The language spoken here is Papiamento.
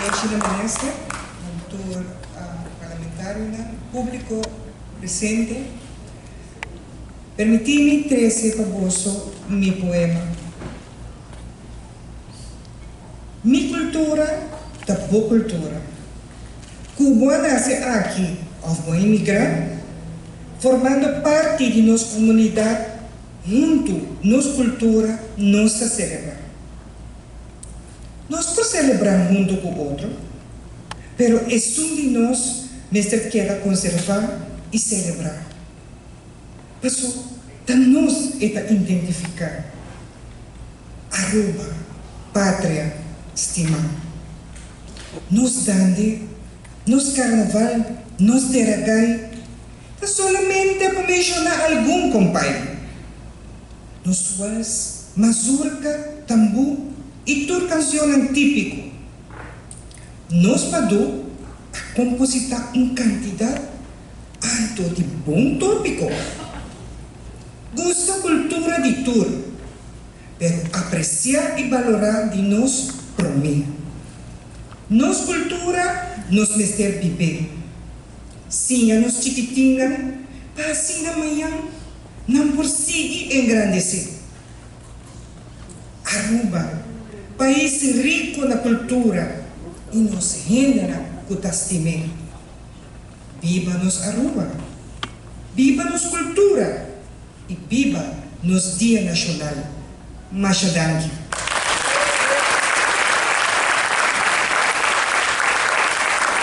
Honoshi den minister, den tur parlamentarionan, publico presente. Permiti mi trece pa boso mi poema. Mi cultura ta bo cultura. Cu bo a nace aki of bo a imigra, formando parti di nos comunidad hunto nos cultura nos ta celebra. Nos por selebrá huntu ku otro, pero esun di nos mester keda konservá i selebrá. Paso ta nos e ta identifiká Aruba, patria stimá. Nos dande, nos karnaval, nos tera gai ta solamente pa menshoná algun, kompay. Nos wals, mazurka, tambú i tur kansionnan típiko. Nos Padú a kompositá un kantidat alto di bon tópiko. Gusta kultura di tur, pero apresiá i balorá di nos promé. Nos kultura nos mester bib'é. Siña nos chikitinnan pa asina mañan. nan por sigui engrandesé Aruba, pais rico na cultura y nos hendenan cu ta stim'é. Biba nos Aruba, biba nos cultura y biba nos Dia Nacional. Masha danki.